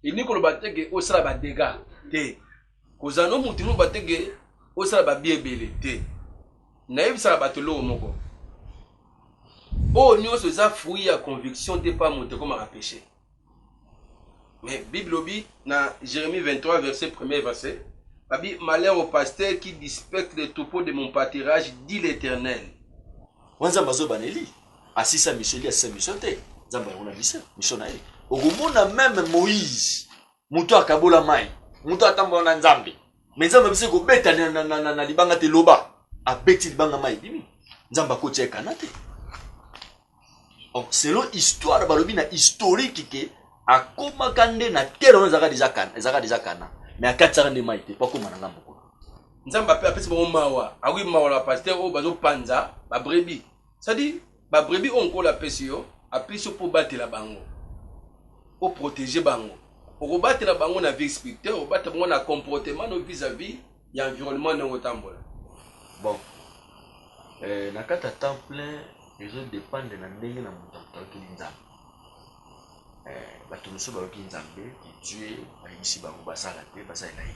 elingi koloba te ke osala badega te kozala no moto elingi koloba te ke osala babi ebele te nayebisaka bato eloko moko oyo nyonso eza fruit ya conviction te mpa moto ekomaka peche mais bible lobi na jérémie 23 verset 1er verset babi malheur au pasteur qui dispecte le troupeau de mon pâtirage dit l'éternel wanzambe azobaneli Asisa mission te asisa mission te nzambe yango na mission mission na ye okomona meme moïse moto akabola mai moto atambola na nzambe me nzambe abisi kobeta na, na, na, na, na libanga te loba abeti libanga mai ebimi nzambe akoti ya ekana te donc selon histoire balobi na historique ke akomaka nde na tere wana ezalaka deja kana ezalaka deja kana me akatisaka nde mai te mpo akoma na ngambo kuna nzambe apesi bango mawa awi mawa na pasteur oyo bazopanza babrebi C'est à dire ba brebis oyo nkolo apesi yo apesi yo mpo obatela bango oprotege bango okobatela bango na vie spirituelle okobatela bango na comportement no vis à vis ya environnement ndenge otambola bon eh, na kati ya temps plein ezodépendre na ndenge na moto akokeli nzambe eh, bato mosusu bayoki nzambe etue bayebisi bango basala te basalela ye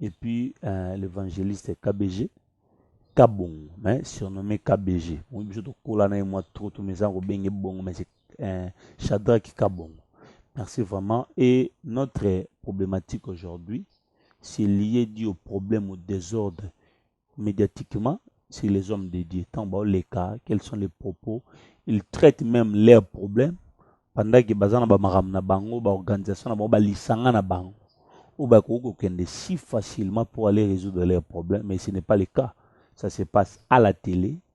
et puis euh, l'évangéliste KBG Kabongo mais surnommé KBG on biso to kola na moi trop tout mes ango benge bongo mais c'est euh, Shadrach Kabongo merci vraiment et notre problématique aujourd'hui c'est lié dit au problème au désordre mediatiquement sur les hommes de Dieu. Tant bah, les cas, quels sont les propos Ils traitent même leurs problèmes pendant que bazana ba maram na bango, ba organisation na bango, ba lisanga na bango. Ou ba kokende si facilement pour aller résoudre leurs problèmes, mais ce n'est pas le cas. Ça se passe à la télé,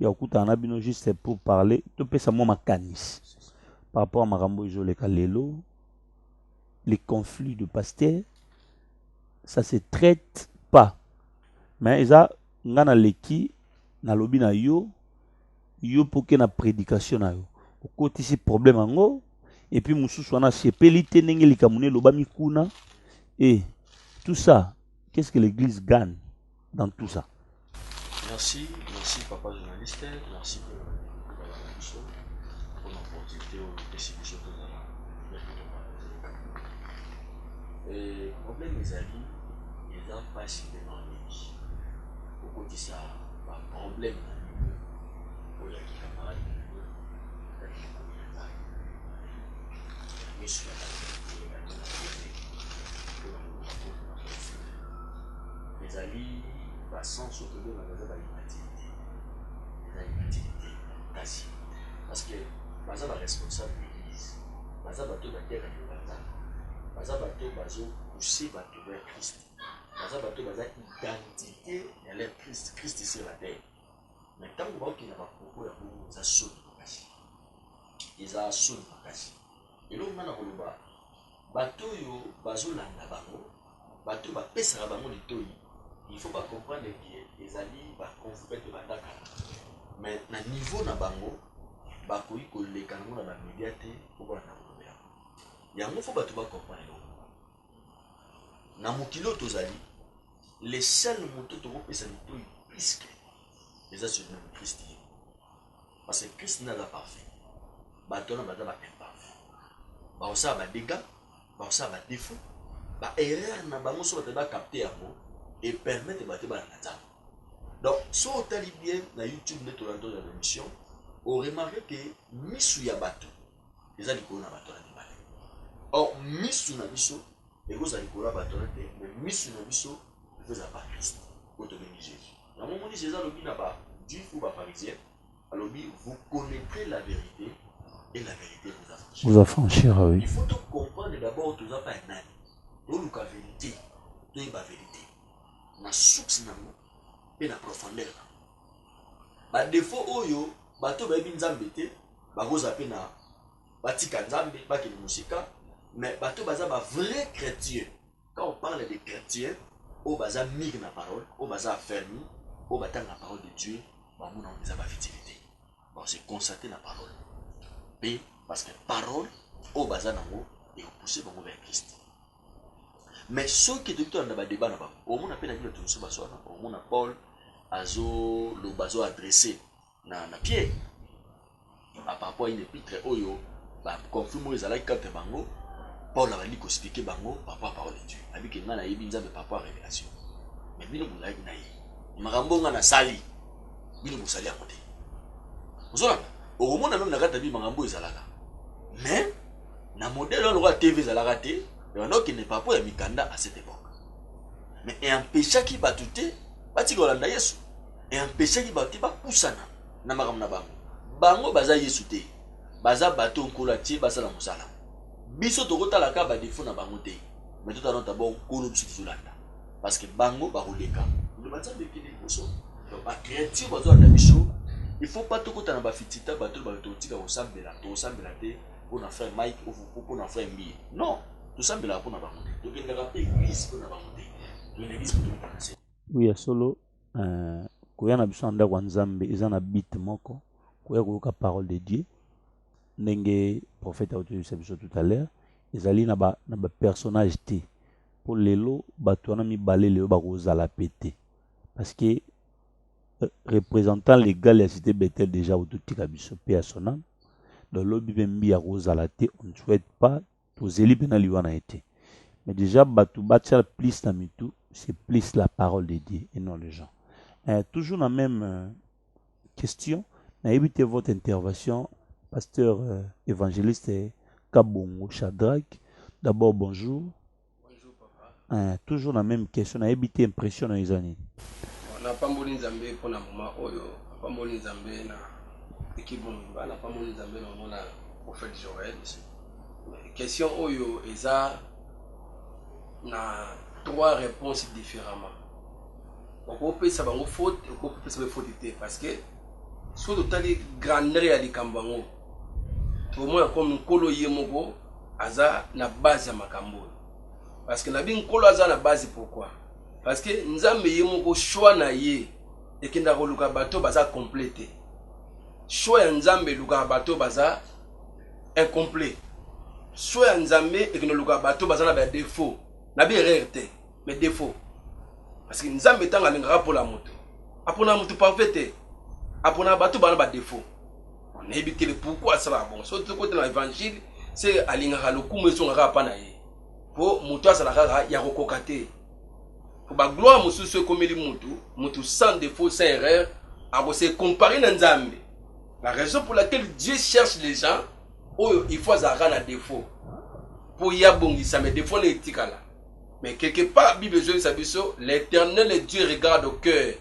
ya kokutana na bino juste pour parler topesa mwa makanisi par rapport ya makambo ezoleka lelo les conflits de pasteur ça se traite pas mais eza nga naleki nalobi na yo yo mpo oke na prédication na yo okotisi problème yango epuis mosusu wana asepeli te ndenge likambo na elobami kuna e tout ça qu'est ce que l'église gagne dans tout ça. Merci, merci papa journaliste, merci pour pour l'opportunité oyo opesi biso tozala euh, problème ezali eza mpasi mpe mamingi kokotisa baproblème na bino oyo ya kikamarade na bino yakikoyebaa miso ya Ezali ba sens oyo tobengaka eza ba immaturite, eza immaturite makasi parce que baza ba responsable d'eglise, baza batu oyo bateyaka liloba ya Nzambe, baza batu oyo bazo pousser batu vers Christ, baza batu oyo baza identite ya leur Christ, Christ sur la terre. Mais tango baokende na ba propos ya bongo eza soni makasi, eza soni makasi. Eloko nga nakoloba Bato oyo bazo landa bango, bato oyo ba pesaka bango litoyi il faut ba comprendre que ezali ba confrere pe ba nda kala mais na niveau na bango ba koki ko leka nango na ba media te po ba landa koloba yango. Yango faut bato ba comprendre eloko moko, na mokili oyo to zali le seul moto toko pesa litoyi plus que eza Celino Christ ye moko. Parce que Christ nde aza parfait. Bato wana baza ba imparfait. Bakosala ba dégâts, bakosala ba défauts, ba erreurs na bango soki bato ba capter yango et permettre bato bana na Nzambe. Donc, si otali bien na YouTube nde tolanda tozwa na émission, o remarque que misu ya bato eza likolo na bato wana mibale. Or, misu na biso ekozala likolo ya bato wana te, mais misu na biso ekozala ba Christ oyo tobengi Jésus. Yango omoni Jesus alobi na ba juifs ou ba pharisiens alobi vous connaitrez la verite et la verite vous affranchira. Vous affranchira oui. Il faut to comprendre d'abord toza pa ya nani. Toluka verite, toyeba verite. Na source nango mpe na profondeur na badefo oyo bato bayebi nzambe te bakozala mpe na batika nzambe bakende mosika me bato baza bavrai chrétien Quand on parle des chretien oyo baza mire na parole oyo baza afermi oyo batanga na parole de dieu bango na eza bavitili te base constate na parole mpe parce que parole oyo baza nango ekopousse bango vers christ mais soki toki tolanda badeba na bango omona mpe na bino tomosu baswana omona paul azoloba azoadresse na, na pie par rapport à une epitre oyo ba conflit moyo ezalaki entre bango paul abandi koexplike bango par rapport à parole de dieu abi ke ngai nayebi nzambe par rapport à révélation mais bino bozalaki na ye makambo ngai nasali bino bosali yango te ozolanda okomona meme na kati ya bi makambo oyo ezalaka mais na modele wana lokola tv ezalaka te ebanda okende par rapport ya mikanda à cette époque mais eempeshaki bato te batika kolanda yesu E empechaki bato te ba pusana na makambo na bango. Bango baza Yesu te. Baza bato oyo Nkolo atie ba sala mosala. Biso toko tala kaka ba defaut na bango te mais to tala nanu d'abord Nkolo biso tozo landa. Parce que bango bako leka. Liloba Nzambe ekende liboso. Donc ba creature bazo landa biso il faut pas to kota na ba fitita bato oyo ba lobi toko tika ko sambela, toko sambela te pona frère Mike ou pona frère Mbiye. Non! To sambelaka pona bango te. To kendaka pe eglise pona bango te. To kende eglise po to kota na se. Oui ya solo. euh, koya na biso na ndako ya nzambe eza na bite moko koya koyoka parole de dieu ndenge prophète akotoyebisa biso tout à l'heure ezali na bapersonnage ba te mpo lelo bato wana mibale lelo bakozala pe te parce que euh, représentant légal ya cité bethel déjà ototika biso mpe ya sonam donc lobi mpe mbi akozala te on ne souhaite pas tozeli mpe na liwa na ye te mais déjà bato batia plus na mitu c'est plus la parole de dieu et non les gens euh, toujours na même euh, question nayebi te votre intervention pasteur euh, évangéliste kabongo shadrack d'abord bonjour Eh, toujours na meme question nayebi te impression na yo eza nini napamboli nzambe mpo na moma oyo napamboli nzambe na ekipe mobimba napamboli nzambe na omona prophète joel question oyo eza na trois réponses différemment okopesa bango faute okopesa bango faute te parce que soki totali grandeur ya likambo yango bomona comme nkolo ye moko aza na base ya makambo oyo parce que nabi nkolo aza na base pourquoi parce que nzambe ye moko choix na ye ekendaka koluka bato baza complet te choix ya nzambe elukaka bato baza incomplet choix ya nzambe ekenda koluka bato baza na badefaut na bierreur te mais défaut parce que nzambe ntango alingaka mpola moto aponaka moto parfait te aponaka bato bana badéfaut nayebi te le pourkui asalaka bongo soki tokota na évangile se alingaka lokumu ezongaka apa na ye mpo moto azala kaka ya kokoka te mpo bagloire mosusu ekomeli motu motu sans défaut sans erreur akose compare na nzambe la raison pour laquelle dieu cherche les gens oyo il faut azalaka na défaut mpo ye abongisame défaut na etikala Mais quelque part, Bible ezongisa biso, l'éternel Dieu regarde au cœur.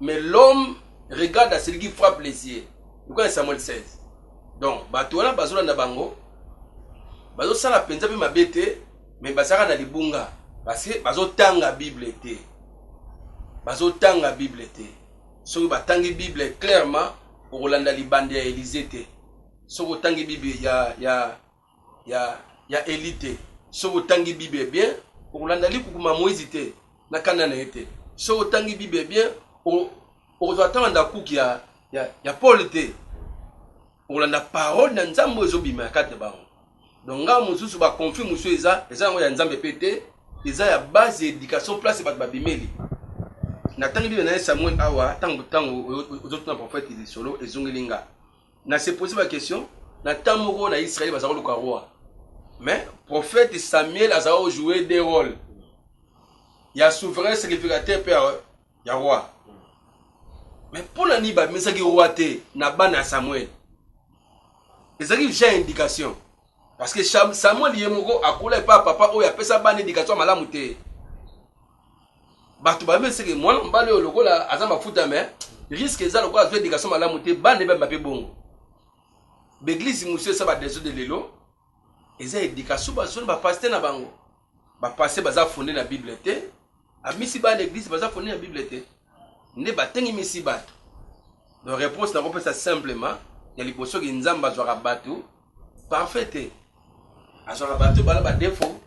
Mais l'homme regarde à celui qui frappe les yeux. Pourquoi Samuel 16 Donc, bato wana bazolanda bango, bazosala mpenza mpe mabe te, mais bazalaka na libunga parce que bazotanga Bible te. Bazotanga Bible te. Soki batangi Bible clairement, okolanda libanda ya Elise te. Soki otangi Bible ya, ya, ya, ya Eli te. Soki otangi Bible bien, okolanda likukuma ya Moïse te, na kanda na ye te. Soki otangi Bible bien, okozwa ata bandakuki ya, ya, ya Paul te. Okolanda parole na Nzambe oyo ezobima ya kati bango. Donc nga mosusu ba conflit mosusu eza eza yango ya Nzambe pe te, eza ya base ya education place bato babimeli. Natangi Bible na ye Samuel awa, tango tango ozotuna prophète lisolo ezongeli nga. Na se poser ba question na temps moko na Israël baza koluka roi mais prophète Samuel aza ko jouer des rôles ya souverain sacrificateur pe ya roi mais mpo na nini bamesaki roi te na bana ya Samuel ezalaki déjà indication parce que Samuel ye moko akola epa papa oyo apesa bana indication malamu te bato bayebi eseke mwana mobali oyo lokola aza mafuta me riske eza lokola azwa edikatio malamu te bana ebambi mabe bongo baeglize mosusu esa badeso de lelo eza edikatio bazwa na bapaste na bango bapaste baza fonde na bible te abimisi bana eglize baza fonde na bible te nde batengemisi bato do réponse nakopesa simplement ya liboso ke nzambe azwaka bato parfait te azwaka bato bala badefaut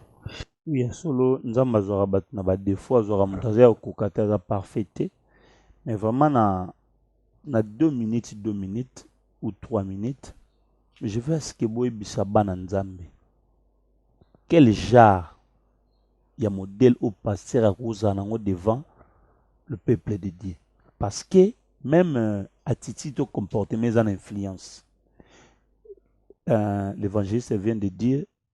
Oui, ya solo Nzambe azwaka bato na ba défaut, azwaka moto aza ya kokoka te, aza parfait te. Mais vraiment na na 2 minutes, 2 minutes ou 3 minutes, je veux à ce que boyebisa bana Nzambe quel genre ya modèle au pasteur akozala nango devant le peuple de Dieu. Parce que même euh, attitude au comportement eza na influence. Euh, L'évangéliste vient de dire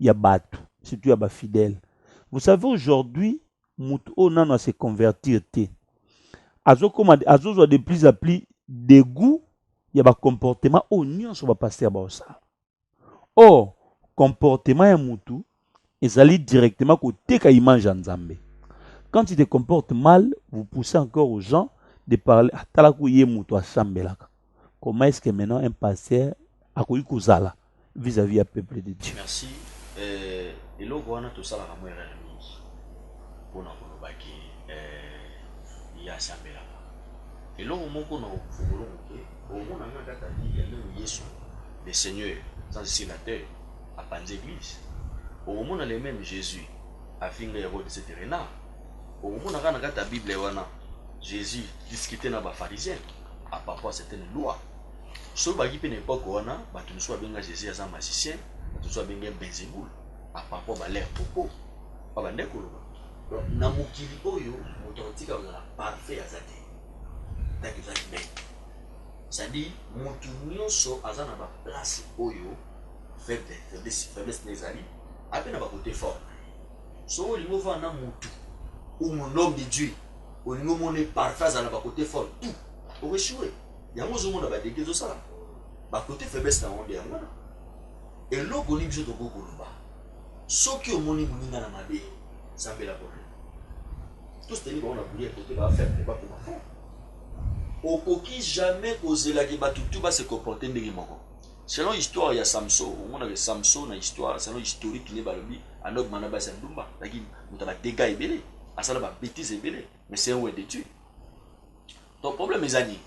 ya bato surtout ya bafidèle vous savez aujourd'hui moto oyo nano ase convertir te azokoma azozwa de plus à plus degout ya bacomportement oyo nyonso bapaster baosala or comportement ya motu ezali directement koteka image ya nzambe quand tu te comportes mal vous poussez encore aux gens de parler atalaku ye moto asambelaka comment est-ce que maintenant un pasteur akoki kozala vis-à-vis ya peuple de Dieu merci euh, eloko wana tosalaka mo erreur mingi mpo na koloba ke euh, ye asambelaka eloko moko na ofungolo moke omona nga kaka biblia ndenge yesu le seigneur sans sénateur apanzi église okomona le même jésus afinga herode etc na okomona kaka na kati ya bible wana jésus discute na bafarisien apapoi certaine loi soki baki mpe na epoke wana bato mosusu babenga jésus aza magicien bato mosusu babenga benzebul apapoi balere popo babande koloba donc na mokili oyo moto akotika kozala parfait aza te ndaki eza humaine c'est-à-dire moto nyonso aza na baplace oyo faiblesse na ezali ape na bakote forme Soki olingi ovanda na mutu ou un homme de Dieu, olingi omona ye parfait, azala na ba cote fort tout, oko echoue. Yango ozomona ba degat ezosalama, ba cote faiblesse na yango nde yango wana. Eloko nini biso tokoki koloba? Soki omoni muninga na mabe, sambela po na ye. To soutenir bango na prière po te ba faible, bakoma fort. Okoki jamais kozela que batu tout ba se comporter ndenge moko. Selon histoire ya Samso, omonaka ke Samso na histoire, selon historique nde balobi anobma na basi ya ndumba, azalaki moto ya ba degats ebele, asala ba betises ebele, mais c'est un wè de Dieu. Donc problème eza nini?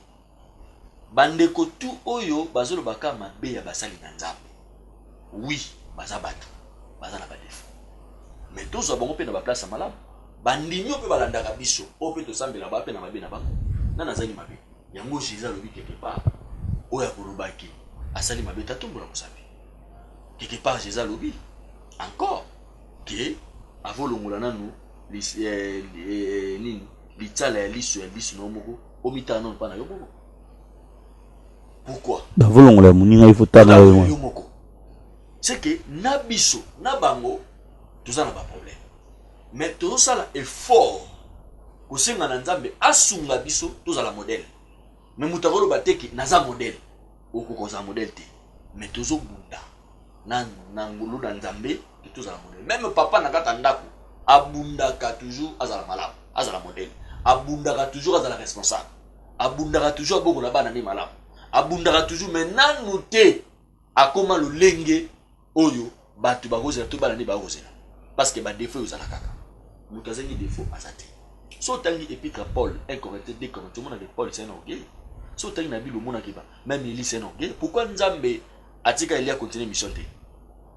Ba ndeko tout oyo bazo loba ka mabe ya basali na Nzambe. Oui, baza batu, baza na ba defauts. Mais tozwa bango pe na ba place ya malamu. Ba ndimi oyo pe balandaka biso, oyo pe tosambelaka, baza pe na mabe na bango. Nani azangi mabe? Yango Jesus alobi quelque part oyo akoloba ke asali mabe te atombola mosapi. Quelque part Jesus alobi encore ke avolongola nanu lis, eh, eh, nini litsala ya liso ya liso na yo moko omitala nanu mpa na yo moko pourquoi bavolongola ya moninga ifo tala yo moko c'est que na biso na bango toza na baproblème mais tozosala effort kosenga na nzambe asunga biso tozala modèle me moto akoloba te ke naza modèle okoka ozala modèle te me tozobunda na, na ngolu na nzambe ke tozala modèle meme papa na kaka ndako abundaka toujours azala malamu azala modèle abundaka toujours azala responsable abundaka toujours abokola bana nde malamu abundaka toujours me nanu te akoma lolenge oyo bato bakozela to bana nde bakozela parceke badefo oyo ozala kaka moto azangi defo aza te so otangi epitre ya paul incorrecte de correcte omona ke paul sen orgueil so otangi na bible omona keba meme eli sen orgueil pourkui nzambe atika elia continue mission te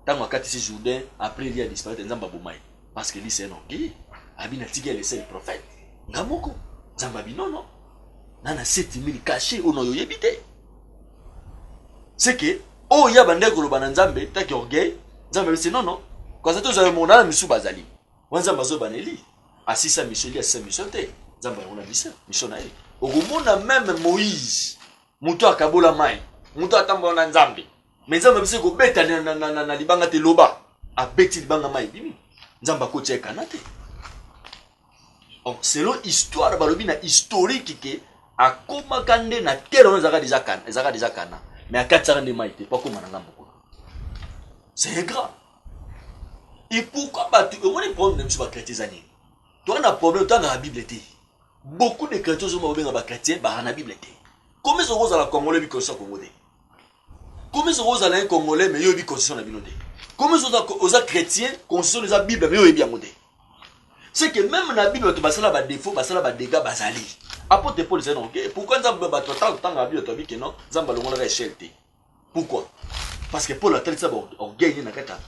ntango akatisi jourdain après elia disparaitre nzambe aboma ye parce que eli sen orgueil abi natiki ele sel prophète nga moko nzambe abi nono na na 7000 cache oyo na oyo oyebi te c'est que oyo ya bandaki koloba na nzambe taki orgueil nzambe abisi non non kasi ata ozali mona na misu bazali wana nzambe azoyeba na eli asisa miso eli asisa miso te nzambe yango na biso miso na ye okomona meme moïse moto akabola mai moto atambola na nzambe me nzambe abisi ekobeta na libanga te loba abeti libanga mai ebimi nzambe akotia ekana te donc selon histoire balobi na historique ke akomaka nde na tere wana ezalaka deja kana ezalaka deja kana me akatisaka nde mai te mpo akoma na ngambo kuna c'est ingrat et pourquoi bato omoni problème na biso bachrétien eza nini toa na problème toa na bible te beaucoup de chrétien ozoma babenga bachrétien baa na bible te komi ezokozala kongolo ebikosa kongo te Komisa kozala un congolais mais yo oyebi constitution na bino te. Komisa oza oza chrétien, constitution eza Bible mais yo oyebi yango te. C'est que même na Bible bato basala ba défaut, basala ba dégâts bazali. Apôtre Paul ezali donc pourquoi Nzambe bato atanga kotanga Bible to abike non, Nzambe alongolaka échelle te. Pourquoi? Parce que Paul atalisa ba orgueil na kata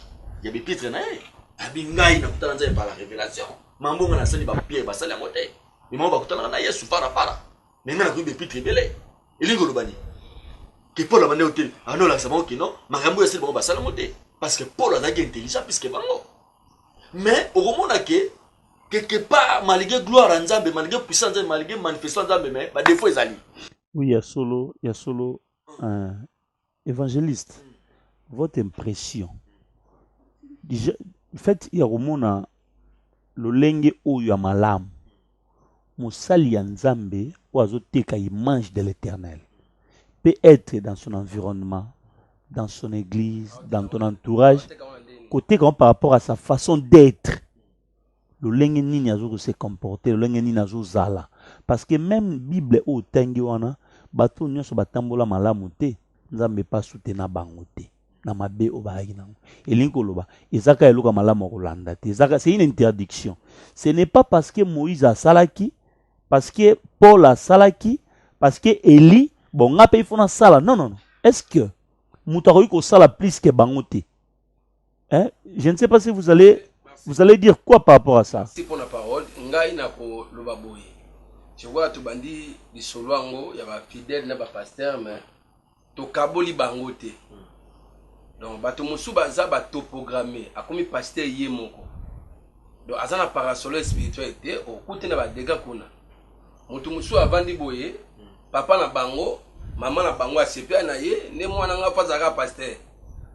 ya bipitre na ye. Abi ngai na kutana Nzambe par la révélation. Mambonga nasali ba pierre basali yango te. Mimao bakutanaka na Yesu para para. me ngai nakoyi bepitre ebele elingi koloba nini ke paul abanda yo te abanda olakisa bango kino makambo oyo asili bango basala yango te parce que paul azalaki intelligent puiske bango mais okomona ke quelque part malgré gloire ya nzambe malgré puissance nzambe malgré manifestation nzambe mais badefo ezali oui ya solo ya solo uh, Evangeliste, votre impression fait ya komona lolenge oyo ya malamu mosali ya nzambe oyo azoteka image de l'éternel peut être dans son environnement dans son église dans ton entourage koteka par rapport à sa façon d'être lolenge nini azo ko se comporter lolenge nini azo zala parce que même bible oyo tangi wana bato nyonso batambola malamu te nzambe pa soutenir bango te na mabe oyo bayaki nango elingi koloba ezaka eloka malamu ya kolanda te ezaka c'est une interdiction ce n'est pas parce que moïse asalaki parce que paul asalaki parce que eli bon nga mpe ifo nasala non non non est ce que moto akoki kosala plus ke bango te Hein? Je ne sais pas si vous allez, vous allez dire quoi par rapport à ça. Merci pour la parole. Ngai na ko loba boye. Je vois to bandi lisolo yango ya ba fidèles na ba pasteurs mais to kaboli bango te. Donc bato mosusu baza ba topogramme akomi pasteur ye moko. Donc aza na parasolo spirituel te okuti na ba dégâts kuna. moto mosusu avandi boye papa na bango mama na bango asepela na ye nde mwana nga mpo azalaka paster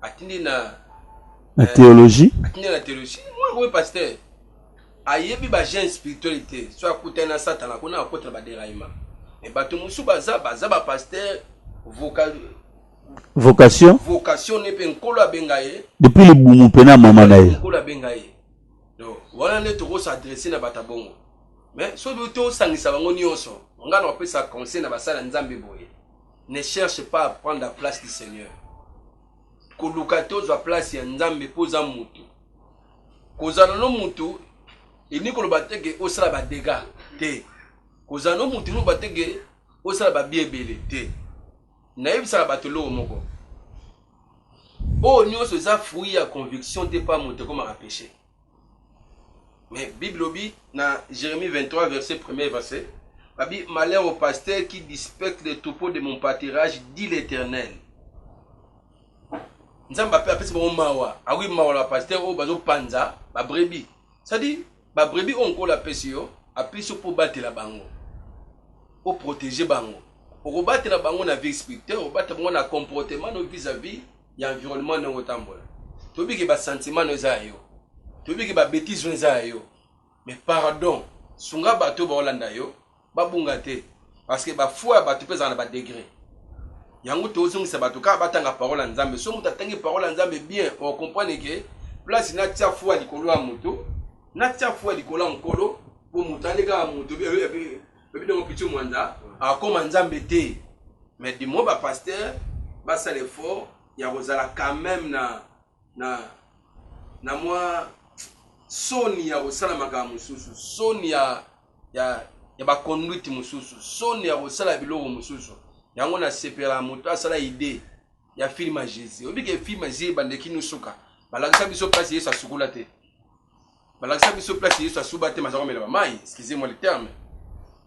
atindi na na eh, théologie atindi na théologie mwana komi paster ayebi bagene spirituel te so akutani na satana kuna akota na baderaima me bato mosusu baza baza bapaster vocal vocation vocation ne mpe nkolo abenga ye depuis libumu mpe na mama na ye nkolo abenga ye donc wana nde tokosadresse na bato ya bongo mais soki tosangisa bango nyonso ngai nakopesa conseil na basala nzambe boye ne cherche pas à prendre la place du seigneur koluka te ozwa place ya nzambe mpo oza motu kozala no motu elingi koloba te ke osala badega te kozala no motu elingi te ke osala babia ebele te nayebisaka bato eloko moko oyo nyonso eza fruit ya conviction te mpa moto ekomaka peche Mais Bible obi na Jérémie 23 verset 1er verset babi malheur au pasteur qui dispecte les troupeaux de mon pâturage dit l'Éternel. Nzambe ape apesi bango mawa, awi mawa la pasteur oyo bazo panza ba brebis. Ça dit ba brebis oyo nkola apesi yo, apesi yo mpo obatela bango. O protéger bango. Okobatela bango na vie spirituelle, obatela bango na comportement no vis-à-vis ya environnement ndenge otambola toyebi ke basentiment no eza ya yo toyebi ke babetise no eza ya yo mais pardon sunga bato oyo baolanda yo babunga te parce que bafoi ya bato mpe ezala na badegre yango tozongisa bato kaka batanga parole ya nzambe so moto atangi parole ya nzambe bien okomprane ke place natia fua likolo ya moto natia fua likolo ya mokolo mpo moto alekaka moto Baby Dongo Pichu Mwanza akoma Nzambe te mais du moins ba pasteur basala effort ya kozala quand même na na na mwa soni ya kosala makambo mosusu soni ya ya ya baconduite mosusu soni ya kosala biloko mosusu yango nasepela moto asala idee ya filme ya jésus oyebi ke filme ya jésus ebandeki nosuka balakisa biso place yesu asukola te balakisa biso place yesu asuba te mazaka omela bamai excusez moi le terme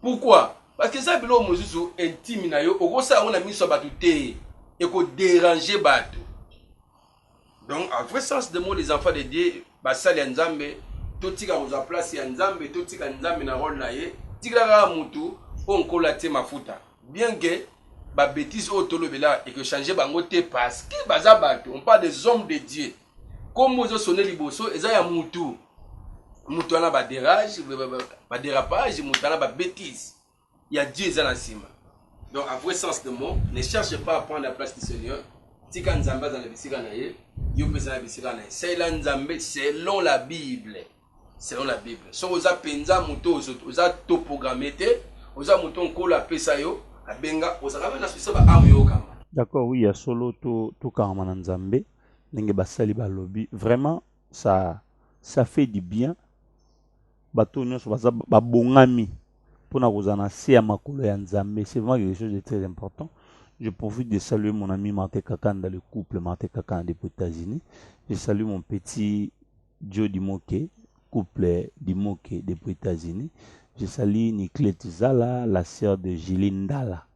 pourquoi parce que eza biloko mosusu intime na yo okosala yango na miso ya bato te ekoderange bato donc en vrai sens de mot les enfants de dieu basali ya nzambe totika kozwa place ya nzambe totika nzambe na role na ye tikela kaka motu oyo nkolo atie mafuta bien que babétise oyo tolobela ekochange bango te parce que baza bato on parle des hommes de dieu Kombo ozo sonne liboso eza ya mutu. Mutu wana ba derage, ba derapage, mutu wana ba bêtise. Ya Dieu eza na sima. Donc à vrai sens de mot, ne cherche pas à prendre la place du Seigneur. Tika Nzambe aza na bisika na ye, yo pesa na bisika na ye. Salela Nzambe selon la Bible. Selon la Bible. Soki oza penza mutu ozo oza toprogramme te, oza mutu nkolo apesa yo, abenga ozalaka na souci ba ame yo kama. D'accord oui ya solo to tokangama na Nzambe. ndenge basali balobi vraiment ça ça fait du bien bato oyo nyonso baza babongami mpona kozala na se ya makolo ya nzambe c'est vraiment quelque chose de très important je profite de saluer mon ami martin kakanda le couple martin kakanda depuis états-unis je salue mon petit joe dimoke couple dimoke depuis états-unis je salue niclete zala la sœur de julie ndala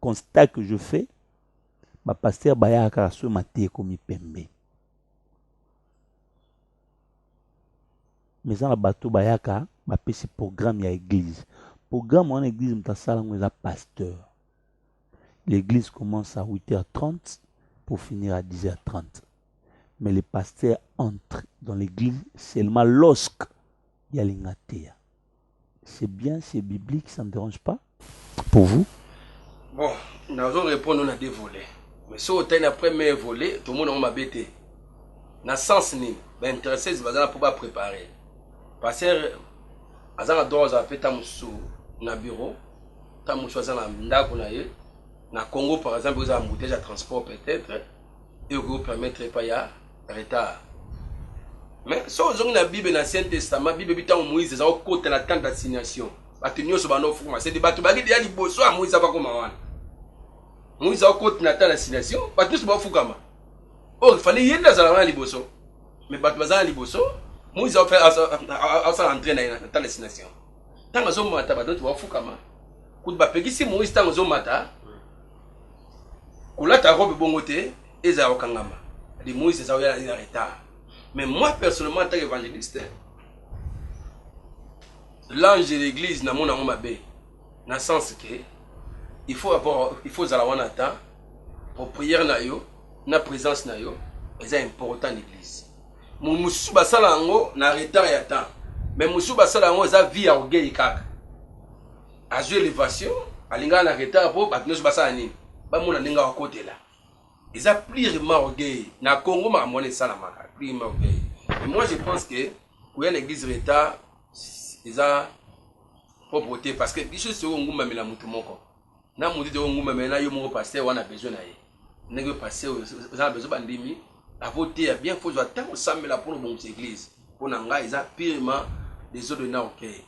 constat que je fais bapastere bayaka kaka soki mateya ekomi pembe mais eza na bato bayaka bapesi programme ya église programme wana église moto asala yango eza pasteur l'église commence à 8h30 pour finir à 10h30 mais le pasteur entre dans l'église seulement lorsque ya lingateya C'est bien, c'est biblique, ça ne dérange pas pour vous Bon, nazo répondre na deux volets. Mais si au na premier volet, tout le monde a ma bête. Na sens ni, ben intéressé, c'est bazala pour pas préparer. Parce que azanga droit za peta musu na bureau, ta musu azanga ndako na ye. Na Congo par exemple, vous avez un bouteille à transport peut-être et vous permettre pas ya retard mais so ozongi na bible na ancien testament bible ebi ntango moïse eza kokota na temps d'assignation bato nyonso banda ofukuma sede bato baki deya liboso ya moïse abakoma wana moïse akokoti na temps d'assignation bato nyonso bafukama oyo oh, fale ye nde azala wana liboso mais bato baza na liboso moïse asala entrain na ye na temps d'assignation ntango azomata bato nyonso bafukama kutu bapekisi moïse ntango ozomata kolata robe bongo te ezala kokangama de moise eza oya na retard mais moi personnellement en tant qu'évangéliste l'ange de l'église namona yango mabe na sens que il faut avoir il faut ozala wana ata po prière na yo na présence na yo eza important na église mosusu basala yango na retard ya temps mais mosusu basala yango eza vie ya orgueil kaka azwi elevation alingaka na retard mpo bato nyonso basala nini bamona ndenge akotela eza plirement orgueil na congo makambo wana esalamaka plirement orgueil et moi je pense que koya na église retard eza propre te parce que biso soki ongumbamela moto moko na moto te ongumbamela na yo moko paster wana besoin na ye ndenge yo paster oza na besoin bandimi akoteya bien fozwa ntango osambela mpo na obongisa église mpo na ngai eza pirement desordre na orgueil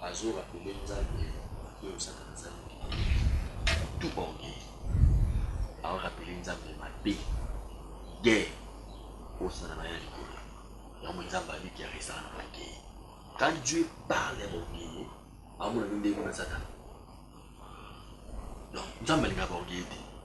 Bazo rappeler nzambe mabe osaka nzambe mabe tout ba orgueil bao rappeler nzambe mabe guerre osala na ya likolo yango nzambe abi guerre esala na orgueil quand Dieu parle ya ba orgueil aomona nde ndenge kuna satana donc nzambe alingaka ba orgueil te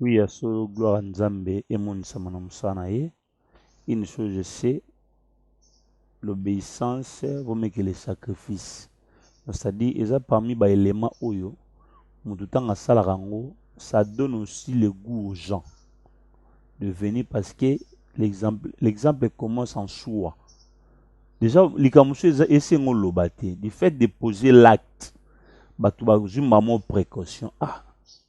Oui, ya solo gloire ya Nzambe emonisama na mosala na ye. Une chose je sais, l'obéissance vaut mieux que le sacrifice. C'est-à-dire, eza parmi ba éléments oyo moto ntango asalaka yango, ça donne aussi le goût aux gens de venir parce que l'exemple l'exemple commence en soi. Déjà likambo mosusu eza esengo oloba te, du fait de poser l'acte, bato bazwi mbamo précaution ah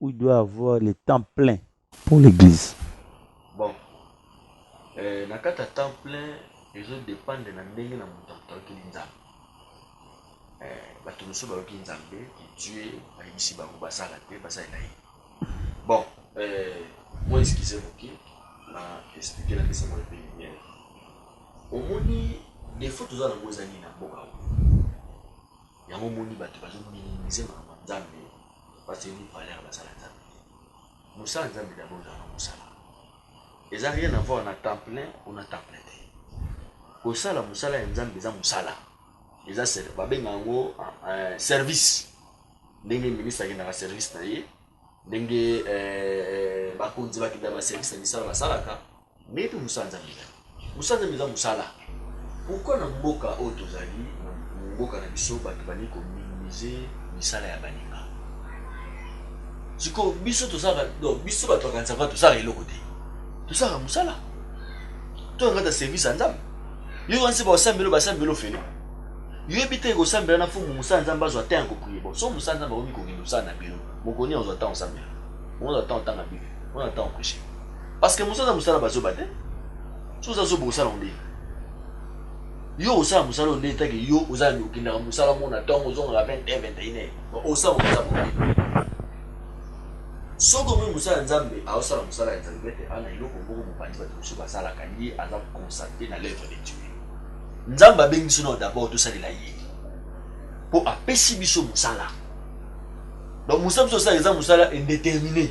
où il doit avoir le temps plein pour l'église. Bon, euh, na kati ya temps plein ezo dépendre na ndenge na moto atokeli nzambe euh, bato mosusu bayoki nzambe ki dieu ayebisi bango basala te basalela ye bon euh, moi eskize moke na explike na pesa moi mpe lumière omoni defo toza nango ezali na mboka oyo Yango omoni batu bazo minimiser maloba nzambe batu yebi valeur baza na nzambe te mosala nzambe d'abord ezalaka mosala eza rien avoir na temps plein ou na temps plein te kosala mosala ya nzambe eza mosala eza babenga yango uh, service ndenge ministre akendaka service na ye ndenge eh, eh, bakonzi bakendaka baservice na misala basalaka Mbetu musanza mila musanza mila musala pourquoi na mboka oyo tozali na mboka na biso batu balingi ko minimize misala ya baninga sikoyo biso tozaka donc biso batu bakanisa va tozaka eloko te tozaka musala to ngata service ya nzambe yo wansi ba osambelo basambelo fele yo yebi te kosambela na fumu musala nzambe azwa te yango priye bo so musala nzambe akomi kokende osala na bino mokoni azwa ntango osambela mokoni azwa ntango otanga bible mokoni azwa ntango opreshe Parce que musala musala bazoba te. Soki oza zoba osala ngo ndenge yo osala musala oyo ndenge take yo oza na okendaka musala mona ntongo ozongaka 20 heure 21 heure osala oza boye soki omoni mosala ya nzambe aosala mosala ya nzambe ete ana eloko moko mopanzi bato mosusu basalaka ye aza constate na l'œuvre de dieu nzambe abengi biso nao d'abord tosalela ye mpo apesi biso mosala donc mosala biso osala eza mosala indetermine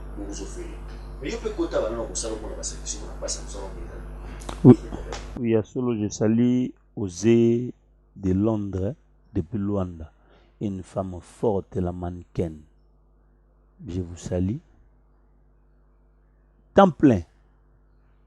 bozo fele mais yo pe kota bana na kosala mona ba service mona basa mosala mpenza Oui, oui, ya solo, je salue Ose de Londres, depuis Luanda. Une femme forte, la mannequin. Je vous salue. Temps plein.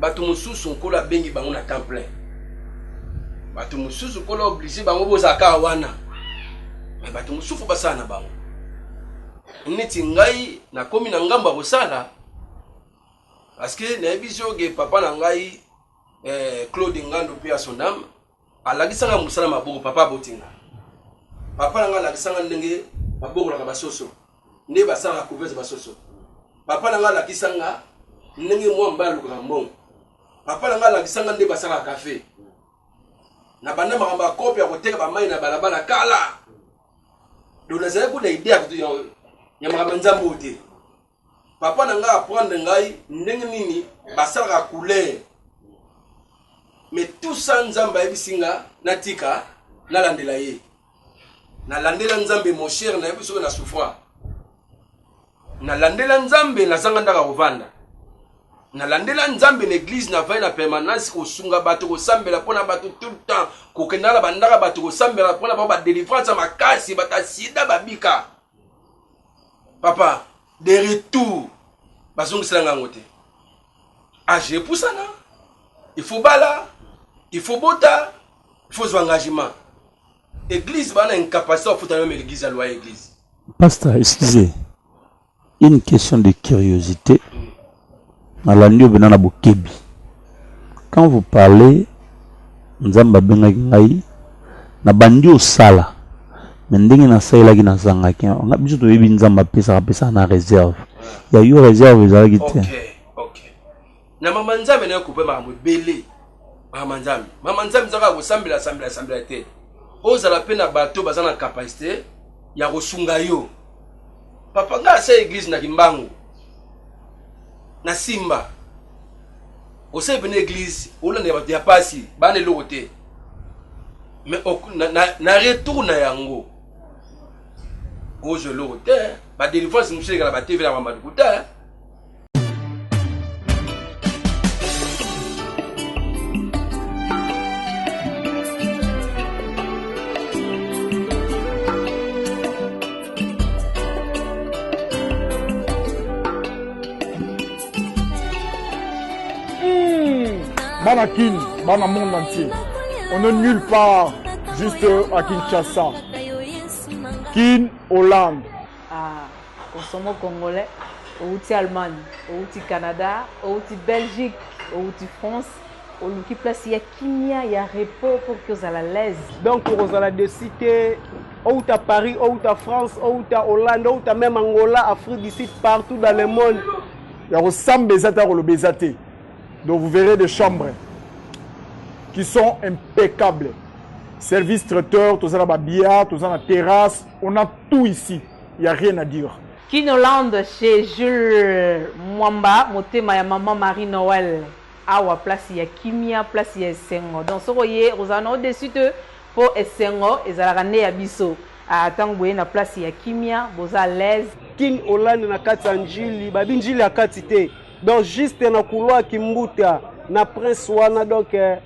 bato mosusu nkolo abengi bango na temps plein bato mosusu nkolo oblige bango bozalaka wana me bato mosusu basala na bango neti ngai nakomi na ngambo ya kosala parceke nayebi zoge papa na ngai eh, claude ngando mpe ya son ame alakisa nga mosala maboko papa aboti nga papa na nga alakisa nga ndenge babokolaka basoso nde basalaka couvese basoso papa na nga alakisa nga ndenge mwa mba alukaka mbongo papa na nga alakisa nga nde basalaka kafe na banda makambo ya kope ya koteka bamai na balabala kala donc nazalaki kuna ide ya makambo ya nzambe oyo te Papa na ngai apprendre ngai ndenge nini basalaka couleur mais tout ça nzambe ayebisi nga natika nalandela ye nalandela nzambe mon cher nayebi soki na souffra nalandela nzambe nazanga ndaka kovanda nalandela nzambe na eglize na vai na permanence kosunga bato kosambela mpo na bato tout le temps kokendaka na bandaka bato kosambela mpo na bango badelivrance ya makasi bato ya sida babika papa de retour bazongisela ngango te age epusana il faut bala il faut bota il faut zwa engagement église bana incapacité bafuta meme l'église ya loi ya église pasteur excusez une question de curiosité mm. nalandi yo bena na bokebi quand vous parlez nzambe abengaki ngai na bandi osala me ndenge nasalelaki nazangaki nga biso toyebi nzambe apesaka apesaka na réserve ya yo réserve ezalaki te okay, okay. na mama nzambe nayo kupe makambo ebele mama nzambe mama nzambe ezaka ya kosambela sambela sambela te ozala mpe na bato baza na kapasite ya kosunga yo papa ngai asa eglize na kimbangu na simba osali pene eglise olandela bato ya pasi bana eloko te mais na, na, na retour na yango kozwa eloko te badelivrance mosusu elekala batv na bambaduku te bana kin bana monde entier on est nulle part juste à kinshasa kin hollande ah, osomo congolais outi allemagne outi canada outi belgique outi france oluki place ya kimia ya repos pour que ozala l'aise donc okozala desi te outa paris outa france outa hollande outa même angola afrique du sud partout dans le monde ya kosamba eza te ya koloba eza te donc vous verrez des chambres qui sont impeccables service traiteur toza na babillard toza na terrasse on a tout ici il y a rien à dire Kinoland chez Jules Mwamba, motema ya maman Marie Noël. Awa place ya kimia, place ya esengo. Donc soki oye, okozala na yo deçu te po esengo ezalaka nde ya biso. Ah, tango boye na place ya kimia, boza à l'aise. Kin Hollande na kati ya Ndjili, babi Ndjili ya kati te. Donc juste na couloir Kimbuta na Prince wana donc eh,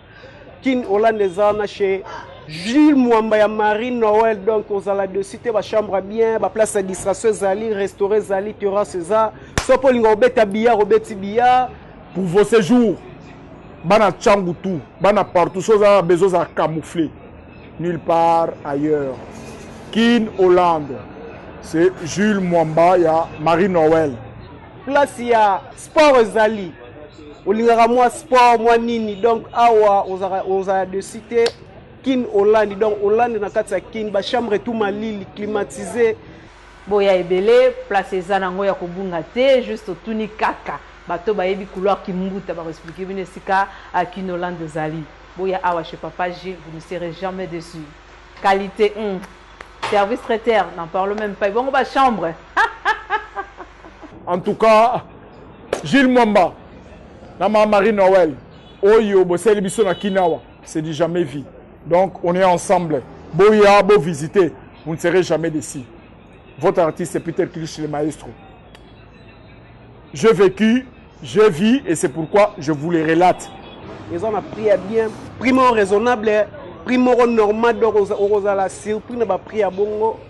Kin Hollande eza wana chez Jules Mwamba ya Marie Noël donc ozala dessus te ba chambre bien ba place ya distraction ezali restaurant ezali terrasse eza soki olinga obeta billard obeti billard Pour vos séjours, bana Tchangu tout, bana partout, chose à besoin à camoufler. Nulle part ailleurs. Kin Hollande, c'est Jules Mwamba, il y a Marie Noël. Place ya sport ezali. Olingaka mwa sport, mwa nini. Donc awa ozala de cité Kin Hollande. Donc Hollande na kati ya Kin, ba chambre tout malili climatisé. Boya ebele, place eza nango ya kobunga te, juste otuni kaka. Bato oyo bayebi couloir kimbuta bako expliquer bino esika kinoland ezali. Boya awa chez papa Gilles, vous ne serez jamais deçu. Qualite hum! Service traiter, n'en parlons meme pas. Ebongo ba chambres? En tout cas, Gilles Mwamba na ma Marie Noël, oyo bosali biso na Kinawa, c'est du jamais vu. Donc on est ensemble. Boya, bo visiter, vous ne serez jamais déçus. votre artiste Peter Kilish le maestro. J'ai vécu, j'ai vu et c'est pourquoi je vous les relate. Ils ont appris ya bien, prix moko raisonnable, prix moko normal donc okozala surpris na ba prix ya bongo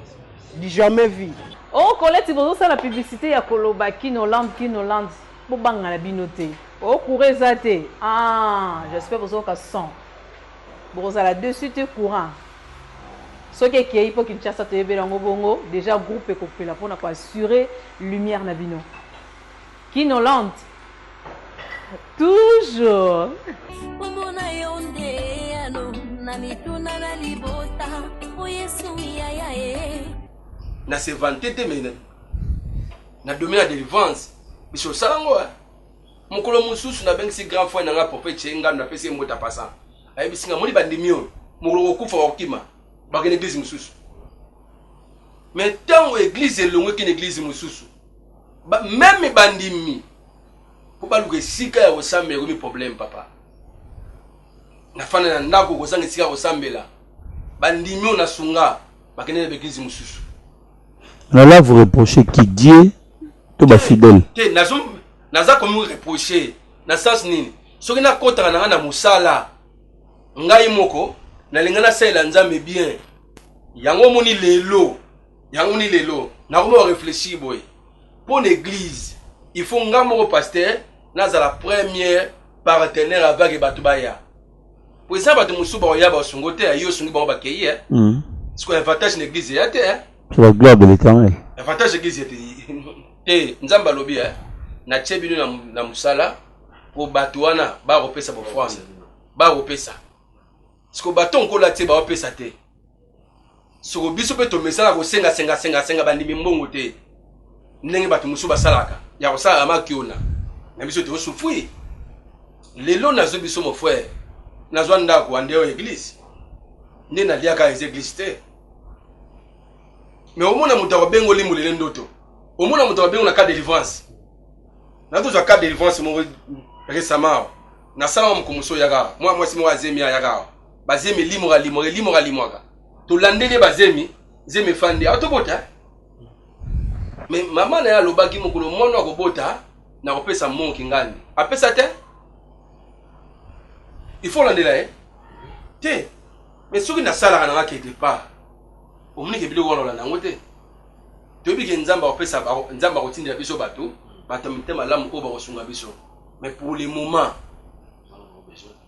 du jamais vu. Oh Colette bozosala publicité ya koloba Kinoland Kinoland bobangana bino te. Oh courage eza te. Ah, j'espère bozoka 100. Bokozala deçu te courant soki ekeyi po Kinshasa toyebela yango bongo dejà groupe ekopela pona ko assurer lumière na bino. Kin Hollande toujours. Kombo na yo nde eyano na mituna na libota o Yesu yaya e. Na se vanter te mais na domi na delivrance biso osala ngo eh. Mokolo mosusu nabengisi grand frère na nga Prophète Che Ngandu napesi ye mbote apasa. Ayebisi nga moni bandimi oyo mokolo kokufa bakokima bakende eglise mosusu. Mais ntango eglise elongwe kende eglise mosusu ba, meme bandimi mpo baluka esika ya kosambela ekomi problème papa. Nafanda na ndako kozanga esika ya kosambela bandimi oyo nasunga bakende na baeglize mosusu na la vous reproche qui dieu to bafidèle te naza komi reproche na sens nini soki nakotaka na ngai na mosala ngai moko nalinga nasalela nzambe bien yango omoni lelo yango ni lelo nakomi oreflechir boye mpo na eglize il faut ngai moko paster nazala première partenaire avake bato baya po eza bato mosusu bakoya basungo te yo osungi bango bakei e hmm. siko avantage na église eya te eh? la gloire de l'éternel avantage ya église ete te nzambe alobi eh? natie bino na mosala po bato wana bakopesa bofrance bakopesa siko bato nkola te baopesa te soko biso mpe tomesana kosenga senga senga senga bandimi mbongo te ndenge bato mosusu basalaka ya kosalaka makiona na biso tosufui lelo nazwi biso mo frère nazwa ndako andeo eglise nde naliaka eza eglise te me omona moto akobengo limbo lele ndoto omona moto akobengo na cas delivrance na tozwa cas delivrance moko récemment awa nasalaka mokomoso oyaka awa mwa mwasi moko azemi ayaka awa bazemi elimwaka limwaka elimwaka limwaka tolandeli ye bazemi zemi efandi awa tobota eh? me mama na ye alobaki mokolo mwana akobota na kopesa mo kingani apesa te il faut olandela ye eh? te me soki nasalaka nanga ke depart omonike biloko wana olanda yango te toyebi ke nzambe akopesa nzambe akotindela biso bato bato ya mitema malamu oyo bakosunga biso mais pour le moment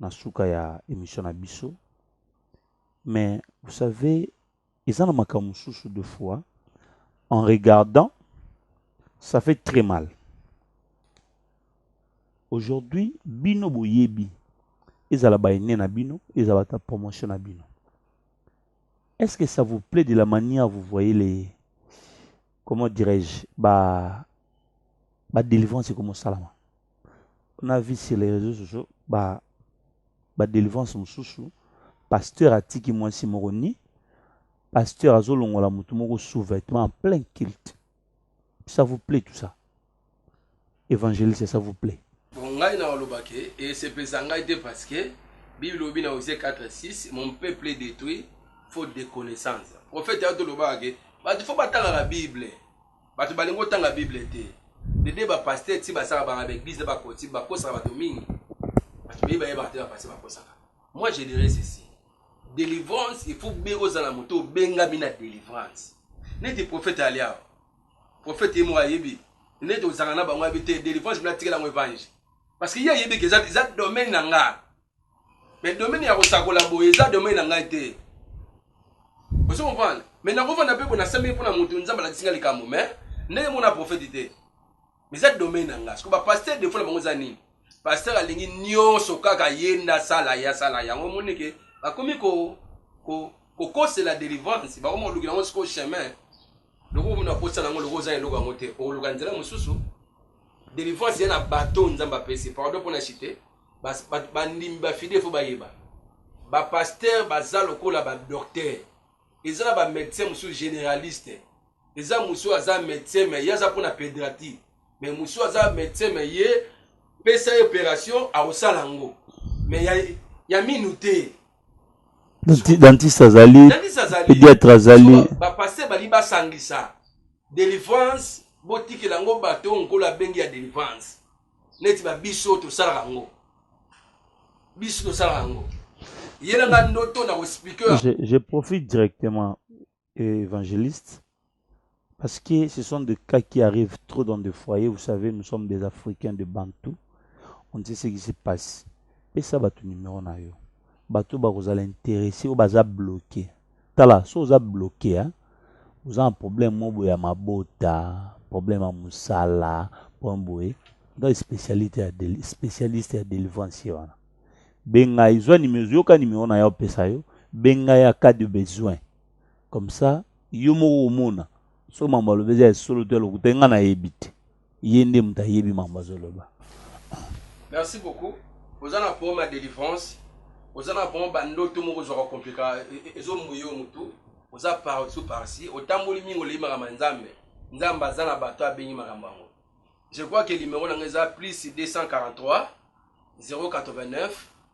na suka ya emission na biso mais vous savez eza na makambo mosusu de fois en regardant ça fait très mal aujourd'hui bino boyebi ezala baine na bino ezala ata promotion na bino est-ce que ça vous plaît de la manière vous voyez les comment dirais-je ba ba délivrance ekoma osalama na vie sur les réseaux sociaux ba ba délivrance mosusu pasteur atiki mwasi moko ni pasteur azolongola motu moko sous vêtement en plein culte ça vous plaît tout ça évangéliste ça vous plaît bon ngai na oloba ke esepelisa ngai te parce que bible lobi na osie 4 6 mon peuple est détruit faute de connaissance prophète ato lobaka ke bato fo batangaka bible Bato balingi otanga Bible te. Bebe ba pasteur ti basaka ba avec biz na ba koti ba kosaka bato mingi. Bato bebe baye ba te ba pasteur ba kosaka. Moi je dirais ceci. Delivrance il faut be ozala moto benga bina delivrance. Neti prophète alia. Prophète ye mo ayebi. Neti ozanga na bango abite delivrance bina tikela ngo evangile. Parce que ye ayebi que eza eza domaine na nga. mais domaine ya kosakola boye eza domaine na ngai te ozo comprendre mais nakofanda mpe bona sambeli mpo na moto nzambe alakisi ngai likambo mais ndenge moko na profete te mais eza domaine na ngai siko bapaster defo na bango eza nini paster alingi nyonso kaka ye nde asala ye asala yango omoni ke bakomi kokosela delivrance bakoma kolukela yango sikoyo chemin lokola omona kosala yango lokola oza eloko yango te okoluka nzela mosusu delivrance ya na bato nzambe apesi pardon mpo na chite bandimi bafide fo bayeba bapaster baza lokola badokter eza na bamédecin mosusu généraliste eza mosusu aza médecin me ye aza mpona pédrati me mosusu aza médecin me ye pesa ye opération akosala yango me ya, ya minu te dentiste azali pédiatre azali bapaster balingi basangisa délivrance botikela yango bato oyo nkolo abengi ya délivrance neti ba biso tosalaka yango biso tosalaka yango yela nga ndoto na koexplike je, je profite directement euh, évangéliste parce que ce sont des cas qui arrivent trop dans des foyers vous savez nous sommes des africains de bantou on ne sait ce qui se passe pesa bato numero na yo bato bakozala interesse oyo baza bloqué Tala soki oza bloke hein? oza na problème moko boye ya mabota problème ya mosala problème boye ngai spécialiste ya spécialiste ya délivrance ye wana benga ye zwa nimero yoka nimero na ye opesa yo benga ya cas de besoin comme ça yo moko omona soki mambo alobi eza ya solo to ya lokuta ngai nayebi te ye nde moto ayebi mambo azoloba merci beaucoup oza na problème ya délivrance oza na vraiment bandoto moko ozwaka komplika e, e, ezombu yo motu oza partout parci otamboli mingi oleyi makambo ya nzambe nzambe aza na bato abengi makambo yango je crois ke limero na ngai eza plus 243 089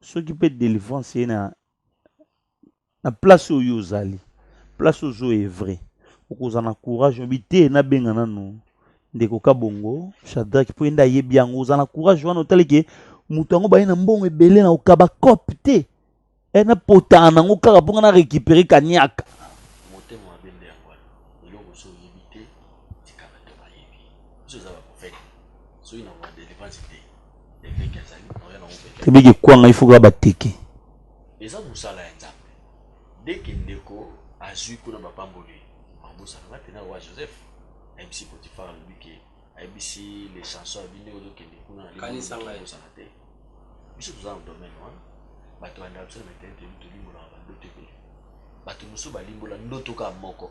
soki mpe delivrance eye na, na place oyo ozali place ozo evre okozala na courage obi te nabenga nanu ndeko kabongo shadrake mpo yende ayebi yango ozala na courage wana otali ke moto yango baye na mbongo ebele na okaba cope te e eh, napotana nango kaka mpo nga na récupere kaniaka Tebe ke kwanga il faut que ba teke. Eza musala ya Nzambe. Dès que ndeko azui kuna ba pamboli, mabusa na tena wa Joseph. MC Potiphar alobi ke ayebisi les chansons abi ndenge ozokende kuna na limusana te. Biso toza na domaine wana. Bato ya ndakisa na mitene toyebi tolimbolaka bandoto ebele. Bato mosusu balimbola ndoto kaka moko.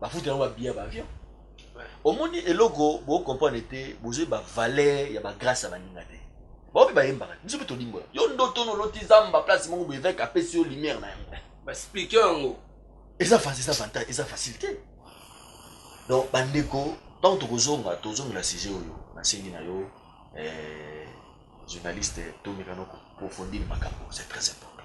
bafuta yango babiya baavion omoni eloko bocomprendre te bozwi bavaleur ya bagrace ya baninga te baobi bayembaka biso mpe tolimbola yo ndoto noloti zamba place moko bo évêque apesi yo lumière na yango basplike yango eza facile eza avantage eza facile te donc bandeko ntango tokozonga tozongela sujet oyo nasengi na yo eh, journaliste tomekana koprofondir makambo c'est très important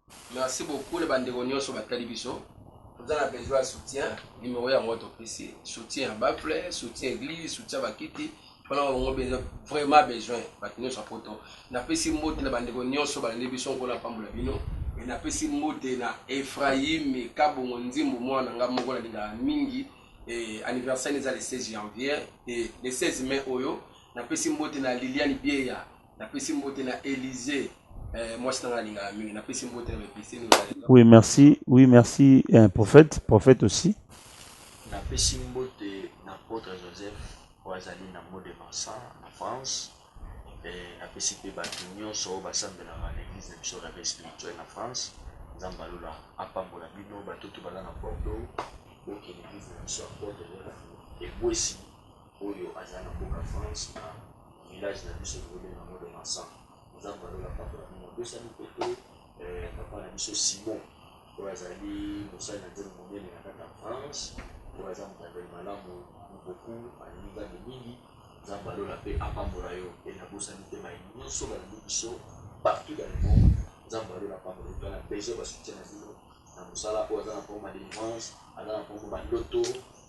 Merci beaucoup na bandeko nionso batali biso toza na besoin ya soutien numero yango topesi soutien ya baffle soutien eglise soutien ya bakiti mpona bango besoin vraiment besoin bato nyonso ya poto napesi mbote na bandeko nyonso balandi biso nkolo apambola bino e napesi mbote na efraime kabongo nzimbu mwana na ngai moko nalingaka mingi e anniversaire eza le 16 janvier e le 16 mai oyo napesi mbote na liliane bieya Napesi mbote na Elise, eh, mwasi nanga alingaka mingi. Napesi mbote na Bepistine. Oui, merci. Oui, merci eh, prophète, prophète aussi. Napesi mbote na Apôtre Joseph oyo azali na mot de Vincent na France. Eh, napesi mpe bato nyonso oyo basambelaka na église na biso Réveil spirituel na France. Nzambe alola apambola bino batutu baza na Bordeaux. Bokende église na biso Apôtre Joseph ebwesi oyo azali na mboka France na village na biso tokobenga yango le Masan oza balola papa na bino abosani mpe te eh, papa na biso Simon oyo azali mosali na nzembo monene na kati ya France oyo aza motambeli malamu boku alingi nzambe mingi nzambe alola mpe apambola yo mpe nabosani te mai nyonso balandi biso partout dans le monde nzambe alola apambola yo tala besoin basutien na bino na mosala oyo aza na mpongo ba délivrance aza na mpongo bandoto